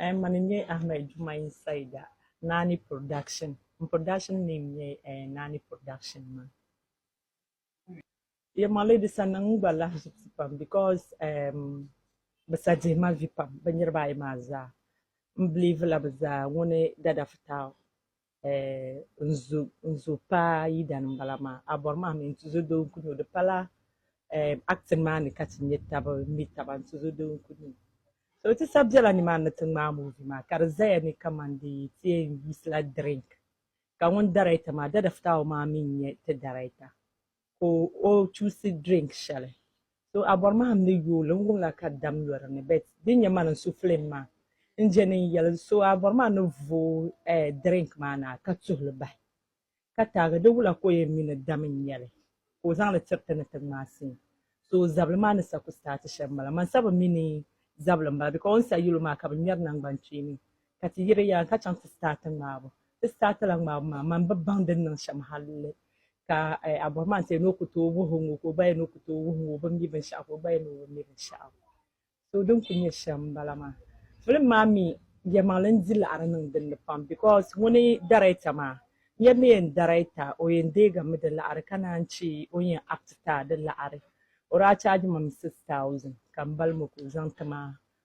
Um, mani n-nyɛ Ahmed Dumai Saida, Naani Production. M production name nyɛ uh, Naani Production man. Yeah, my lady sa niŋ n gba lahi zibisi pam because um, bɛ sa dihi ma vi pam, bɛ niriba ayi maa zaa. M believe la bɛ zaa ŋuni Dada Fitau n zo paa yidana n bala maa a bɔri maa mi n tuzo doo n kuni o di pala acting maa ni ka ti nyɛ tabi mi taba n tuzo doo n kuni o so ti sa bela ni maa ni ti ŋmaa movie maa ka di zaya ni kaman di ti yɛn yusi la drink ka ŋun director maa dada fitaawo maa mi n nyɛ ti director ka o chusi drink shɛli so a bɔri mahim ni yooli n wumla ka dam yɔri ni bet din nyɛ man n su film maa n jɛni n yɛli so a bɔri maa ni voo eh, drink maa na ka tuhili bahi ka taagi di wula ka o yɛn mi ni dam n nyɛli ka o zaŋli tiri ti ni ti ŋmaai sin so zabili maa ni sa ku start shɛm bala man sa bi mi ni zabili n bala because o ni sa yɛlo maa ka bi ŋmɛri nangban kpeeni Ka ti yiri yaansi ka chaŋ ti sitaati ŋmaabu. Ti sitaati la ŋmaabu maa, man bi baŋ din niŋ shɛm halli ka a bɔri maa n-ti ni o ku tooi wuhi o ŋɔ ka o gba yɛn ni o ku tooi wuhi ŋɔ o bi mi binshɛɣu ka o gba yɛn ni o bi mi binshɛɣu. So din kuli nyɛ shɛm m-bala maa. Filim maa mi yɛlimaŋli n-di laɣiri niŋ din ni pam because ŋuni darɛta maa niriba ni yɛn darɛta o yɛn deegi mi di laɣiri ka naan che o ni yɛn acti a di laɣiri o daa chaagi ma mi six thousand ka m bali mi ka o zaŋ ti ma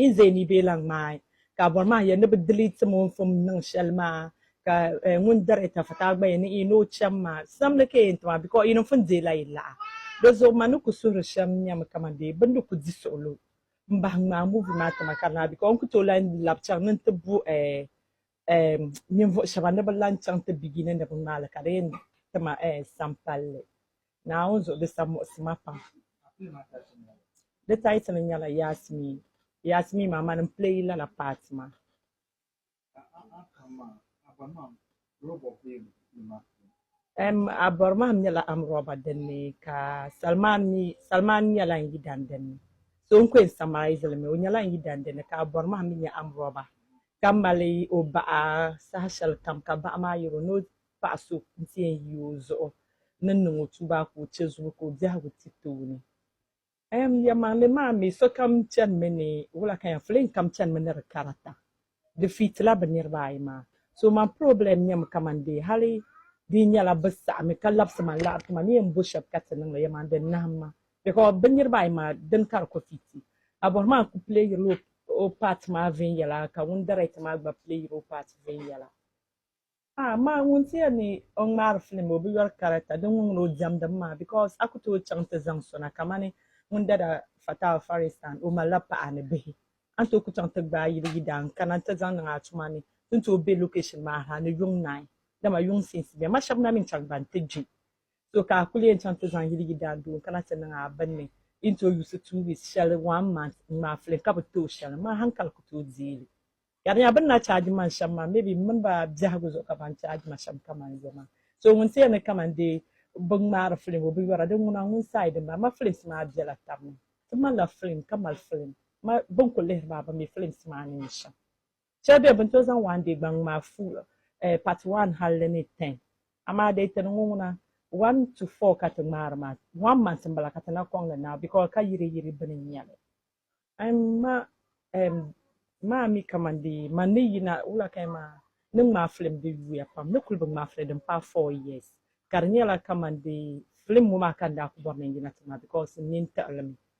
N zee ni bɛ lan ŋmaai ka a bɔri maa yɛn ni bɛ diliitim o n-fum niŋ shɛli maa, ka ŋun dari tafuta gba yɛn ni o cham maa, samli ka yɛn ti ma, bikɔɔ yi ni fun deei la yi laɣa. Di zuɣu ma ni ku suhiri shɛm nyami kaman bee bɛ ni di ku di suɣulo m-bahi ŋmaai muuvi maa ti ma ka di naai, bikɔɔ n ku tooi lan lab chaŋ ni n-ti bu eh, ninvuɣu shɛba ni bi lan chaŋ ti bigini ni bi ŋmaali ka di yɛn ti ma eh, sampalli. Naawuni zuɣu di sa muɣisi ma pam. Di title nyɛla Yasmeen. Yasmeen maa mani m-play lala part maa. Em, Abormahim nyɛla Amroba din ni ka Salman mi Salman nyɛla n yidan din ni. So n-ku yɛn summarise li mi, o nyɛla n yidan din ni ka Abormahim mi nyɛ Amroba. ka mali o baɣa saha shɛli kam ka baɣa maa yɛr o ni o paɣ so nti yɛn yi o zuɣu ni niŋ o tuubaa ka o chɛ zubu ka o biɛhigu ti tooni. Ɛɛm, yɛlimaŋli maa mi, sokam chanimi ni wula ka yɛn filiŋ kam chanimi ni di karata. Di fiitila bɛ niriba ayi maa. So man purɔblɛm nyɛmi kaman dee hali di yi nyɛla bɛ saɣimi ka labisi ma laɣiri ti ma ni yɛn bo shɛb ka ti niŋ li, yɛlimaŋli di nahim ma. Because bɛ niriba ayi maa dini ka di ku fi ti. Abɔrhman ku playirila o part maa viɛnyɛla ka ŋun director maa gba playiri o part viɛnyɛla. Amaa ŋun ti yɛli ni o ŋmaari film o bi yɔri character din ŋun ŋun o diɛmdim maa because a ku tooi chaŋ nti zaŋ so na kamani ŋun dada Fatal Faristan o malila paɣa ni bihi a ni tooi ku chaŋ nti gbaai yili yidaan n-kana nti zaŋ niŋ a tuma ni ti ni tooi be location maa ha ni yuŋ naai dama yuŋ scenes bemi a shɛba na mi n-chaŋ gba nti gbi So ka a kuli yɛn chaŋ ti zaŋ yili yidaandoo n-kana ti niŋ a bini ni yi ni tooi yuusi two weeks shɛli one month n-ŋmaai filiŋ ka bi tooi shɛli maa hankali ku tooi deei li. Ka di nya bɛ ni na charge man shɛm maa maybe m mini ba biɛhigu zuɣu ka ban charge ma shɛm kaman yo maa. So ŋun ti yɛn ni kaman dee bi ŋmaari filiŋ o binyɔra di ŋuna ŋun side m-bala. M ma filims maa bela tab ni. Ti malila filiŋ ka mali filiŋ. M ma bɛ ni ku lihiri maa bɛ mi filims maa ni nyɛ shɛm. Chɛ bɛ bɛ ni tooi zaŋ waan deei gbaŋ maa full part one hal di ni ten. Amaa di yi tiri ŋɔ ŋuna, one to four ka ti ŋmaari maa, one month m-bala ka ti na kɔŋ li now because ka yiri yiri bɛ ni nya li. Ɛm ma ɛm maa mi kaman di man ni yina wula ka ya maa ni ŋmaai film di yuya pam ni kuli bi ŋmaai film din paai four years ka di nyɛla kaman di film ŋɔ maa ka n daa ku bɔri ni n yina ti ŋmaai because n nini tiɣi li mi.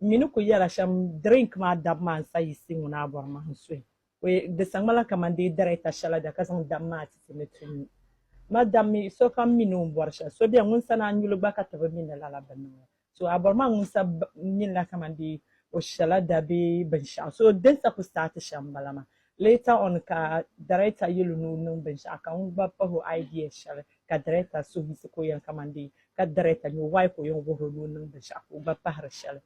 N mi ni ku yɛla shɛm drink maa dab maa n-sa yi si ŋuna a bɔri ma n suhi o ye di sa ŋmala kaman dee darɛta shɛla da ka zaŋ dam maa ti ti ni ti nyu. Ma dam mi, sokam mi ni o ni bɔri shɛli. So beni ŋun sani a nyuli gba ka ti bi mi ni lala bi niŋ la. So a bɔri ma ŋun sa minila kaman dee o shɛla da bee binshɛɣu. So din sa ku saati shɛm m-bala maa. Later on ka director yɛl o ni o niŋ binshɛɣu ka ŋun gba pahi o idea shɛli ka director suhu yiɣisi ka o yɛn kamani dee ka director nya o why ka o yɛn wuhir o ni o niŋ binshɛɣu ka o gba pahiri shɛli.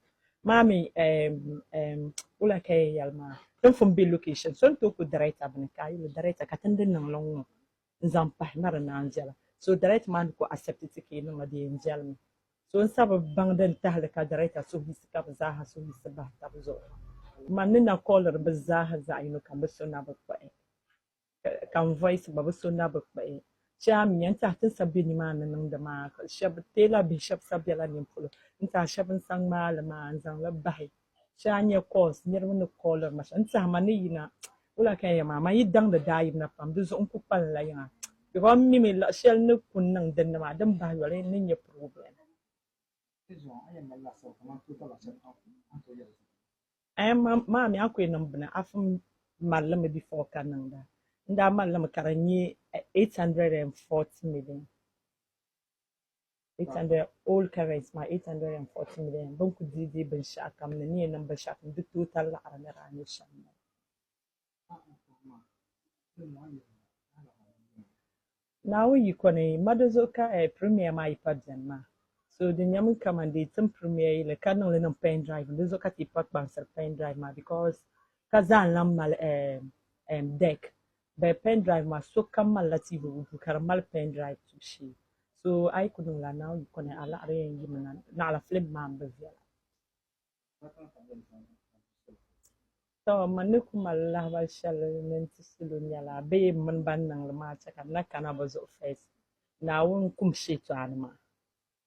Maa mi eem eem wula ka yɛn yɛli maa? Tinfum be location so n-tooi ku director bini ka a yɛl o director ka ti ni di niŋ li n-ŋɔ. n zaŋ pahi na di naan viɛla so director maa ni ku accept ti ka yi niŋ a di yɛn viɛli mi so n sabi baŋ din tahili ka director suhuyisi ka bi zaaha suhuyisi bahi tab zuɣu man ni na kɔliri bi zaaha zaɣ yino kam bi so na bi kpuɣi ka n voice gba bi so na bi kpuɣi shɛli a mi yɛn tahi ti n sabi be ni maa ni niŋdi maa shɛb teela bihi shɛb sabi bela nin polo n tahi shɛb n sa ŋmaali maa n zaŋli bahi Shee a nya calls niriba ni calliri ma shɛm n-tɛhi ma ni yina wula ka n yɛn ma amaa n yi daŋdi daayibna pam di zuɣu n ku kpalim la yiŋa because m mimi luɣ shɛli n ni ku niŋ din ni maa din bahi yoli n ni nya problem. Ɛɛh maa mi a ku yɛn niŋ bini afi n mali li mi before ka niŋda n daa mali li mi ka di nyɛ eight hundred and forty million. 800 old currency maa 840 million bin ku dii dii binshaɣu kam ni ni yɛn niŋ binshaɣu kam di total laɣiri ni daa nyɛ shɛm maa. Naawuni yiko ni ma di zuɣu ka eh, Premiere maa yi pa bɛni maa. So di nyɛmi kaman di yi tim Premiere yili ka niŋ li niŋ pen drive ni di zuɣu ka ti yi pa kpaŋsiri pen drive maa because ka zaa n-lan mali eh, em, deck But pen drive maa sokam malila TV o duu ka di mali pen drive tubu shee. So a yi ku niŋ la now yi kɔni a laɣiri yɛn yimi na. Naɣila film maa m-bi viɛla. Tɔ! Man ni ku mali lahibal shɛli ni n-ti salo nyɛla bee m mini ban niŋ li maa chɛ ka n na kana bɛ zuɣu first. Naawuni kum shɛtɔɣani maa.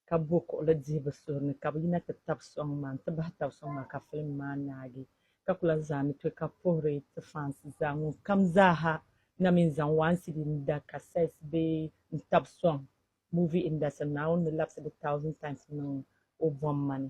ka bo kuɣili dihibu suhuri ni ka bɛ yina ti tab sɔŋ maa n-ti bahi tab sɔŋ maa ka filim maa naagi ka kula zaa ni tɔi ka puhiri ti fansi zaa ŋun kam zaa ha na mi n-zaŋ waan CD ni da kasɛt bee n-tab sɔŋ movie industry ni Naawuni ni labisi di thousand times niŋ o bomma ni.